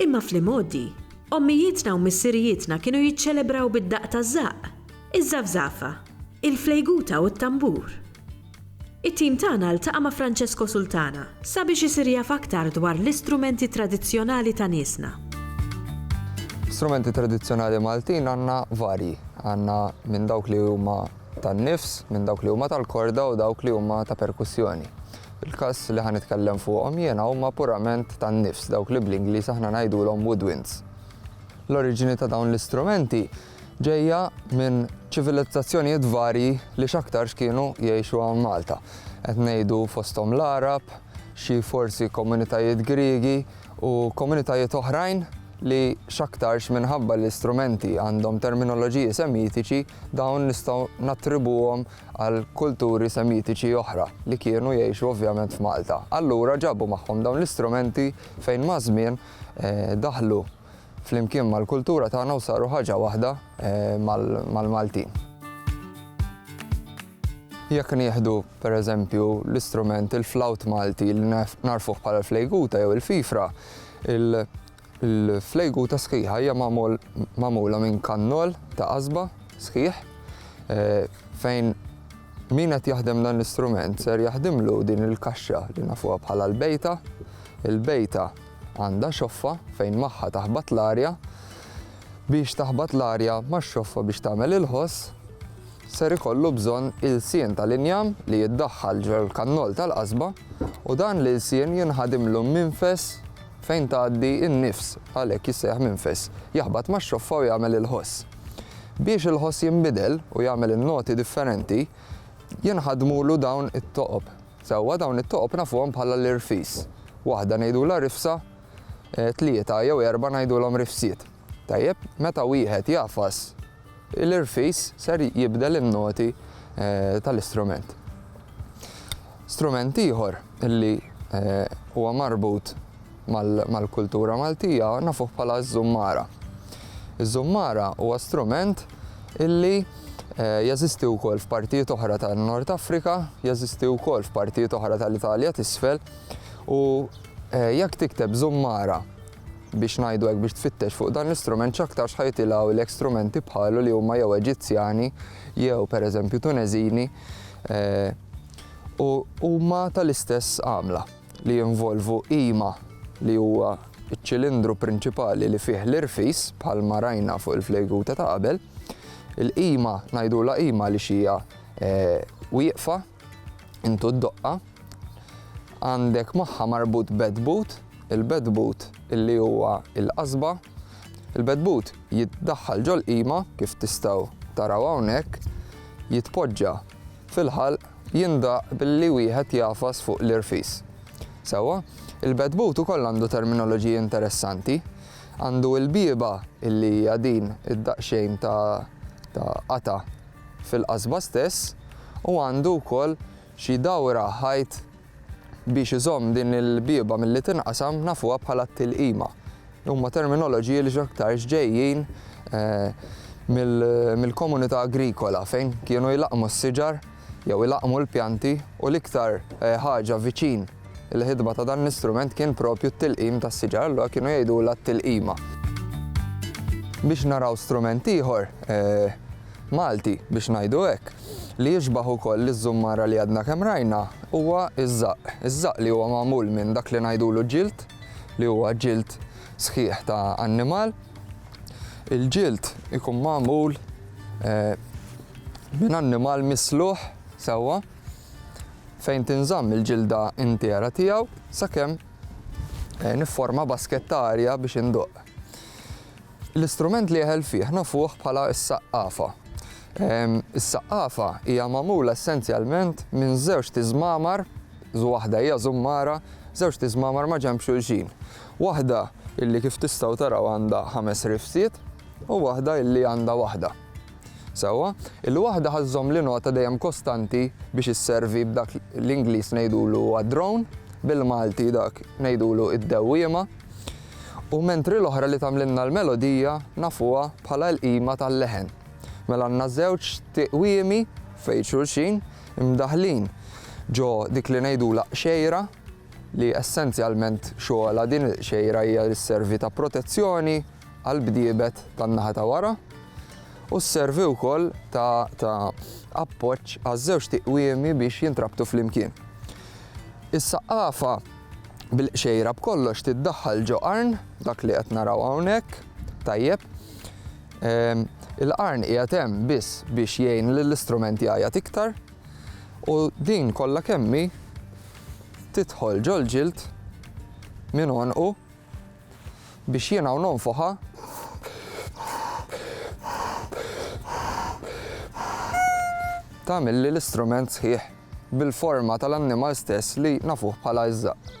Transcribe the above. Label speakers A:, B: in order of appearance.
A: Imma fl-imgħoddi, ommijietna u missirijietna kienu jiċċelebraw bid-daqq taż-żaqq, iż-żafżafa, il-flejguta u t-tambur. It-tim tagħna ltaqa' ma' Francesco Sultana sabiex isir jaf aktar dwar l-istrumenti tradizzjonali ta' niesna.
B: Strumenti tradizzjonali Maltin għandna varji. Għandna minn dawk li huma tan-nifs, minn dawk li huma tal-korda u dawk li huma ta' perkussjoni. Il-każ li ħa nitkellem fuqhom jiena huma purament tan-nifs, dawk li bl-Ingliż aħna ngħidulhom woodwinds. L-oriġini ta' dawn l-istrumenti ġejja minn ċivilizzazzjonijiet varji li x'aktarx kienu jgħixu hawn Malta. Qed ngħidu fosthom l-Għarab, xi forsi komunitajiet Griegi u komunitajiet oħrajn li x'aktarx minħabba li l-istrumenti għandhom terminoloġiji semitiċi dawn nistgħu nattribuhom għal kulturi semitiċi oħra li kienu jgħixu ovvjament f'Malta. Allura ġabu magħhom dawn l-istrumenti fejn maż-żmien daħlu flimkien mal-kultura tagħna u saru ħaġa waħda mal-Maltin. Jekk nieħdu pereżempju l-istrument il-flawt Malti li nagħrfuh bħala l-flejguta jew il-fifra, Il-flejguta sħiħa hija magħmula minn kannol ta' qasba sħiħ fejn min qed jaħdem dan l-istrument ser jaħdimlu din il-kaxxa li nafuha bħala l-bejta. Il-bejta għandha xoffa fejn magħha taħbat l-arja biex taħbat l-arja max-xoffa biex tagħmel il-ħoss ser ikollu bżonn ilsien tal-injam li jiddaħħal ġol-kannol tal-qasba u dan l-ilsien jinħadimlu minfes Fejn tgħaddi n-nifs, għalhekk jissejjaħ minfes, jaħbat max-xoffa u jagħmel il-ħoss. Biex il-ħoss jinbidel u jagħmel in-noti differenti, jinħadmulu dawn it-toqob. Sewwa dawn it-toqob nafuhom bħala l-irfis. Waħda ngħidulha rifsa, tlieta jew erbgħa ngħidulhom rifsiet. Tajjeb, meta wieħed jagħfas, l-irfis ser jibdel in-noti tal-istrument. Strument ieħor li huwa marbut mal-kultura Maltija nafuh bħala ż-żummara. Iż-żummara huwa strument illi Eh, jeżisti wkoll f'partijiet oħra tan-Nord Afrika, jeżisti wkoll f'partijiet oħra tal-Italja t'isfel u eh, jekk tikteb żummara biex ngħidu hekk, biex tfittex fuq dan l-istrument x'aktarx ħa jitilgħulek strumenti bħalu li huma jew Eġizzjani jew pereżempju Tuneżini u huma tal-istess għamla li jinvolvu qima li huwa ċ-ċilindru prinċipali li fih l-irfis bħalma rajna fuq il-flejgute ta' qabel. Il-qima ngħidulha qima għaliex hija wieqfa intu d-doqqa, għandek magħha marbut bed boot, il-bed boot illi huwa il-qasba, il-bed boot jiddaħħal ġol-qima kif tistgħu taraw hawnhekk, jitpoġġa fil-ħalq jindaq billi wieħed jagħfas fuq l-irfis. Sewwa, il-bed boot ukoll għandu terminoloġija interessanti, għandu l-bieba illi hija din id-daqsxejn ta' qata' fil-qasba stess u għandu wkoll xi dawra ħajt biex iżomm din il-bieba milli tinqasam nafuha bħala t-tilqima. Huma terminoloġiji li x'aktarx ġejjin mill-komunità agrikola fejn kienu jlaqqmu s-siġar jew ilaqqmu l-pjanti u l-iktar ħaġa viċin il-ħidma ta' dan l-istrument kien propju t-tilqim tas-siġar allura kienu jgħidulha t-tilqima. Biex naraw strument ieħor Malti, biex ngħidu hekk, li jixbah ukoll liż-żummara li għadna kemm rajna, huwa ż-żaqq. Iż-żaqq li huwa magħmul minn dak li ngħidulu ġild, li huwa ġild sħiħ ta' annimal. Il-ġild ikun magħmul minn annimal misluħ sewwa fejn tinżamm il-ġilda intiera tiegħu sakemm nifforma basket ta' arja biex induqq. L-istrument li jeħel fih nafuh bħala s-saqqafa. Is-saqqafa hija magħmula essenzjalment minn żewġt iżmamar, waħda hija żummara, żewġt iżmamar ma' ġenb xulxin. Waħda illi kif tistgħu taraw għandha ħames rifsiet u waħda illi għandha waħda. Sewwa, il-waħda ħa żżomm l-inota dejjem kostanti biex isservi b'dak l-Ingliż ngħidulu a drone, bil-Malti dak ngħidulu id-dewwiema. U mentri l-oħra li tagħmlilna l-melodija nafuha bħala l-qima tal-leħen. Mela għandna żewġ tiqwiemi f'għid xulxin, imdaħħlin ġo dik li ngħidulha qxejra, li essenzjalment xogħolha din il-qxejra hija li sservi ta' protezzjoni għall-bdiebet tan-naħa ta' wara u sservi wkoll ta' appoġġ għaż-żewġ tiqwiemi biex jintrabtu flimkien. Is-saqqafa bil-qxejra b'kollox tiddaħħal ġo qarn, dak li qed naraw hawnhekk, tajjeb. Ehm, il-qarn qiegħed hemm biss biex jgħin lill-istrument jgħajjat iktar u din kollha kemmi tidħol ġol-ġild minn għonqu biex jiena u nonfoħha tagħmilli l-istrument sħiħ bil-forma tal-annimal stess li nafuh bħala iż-żaqq.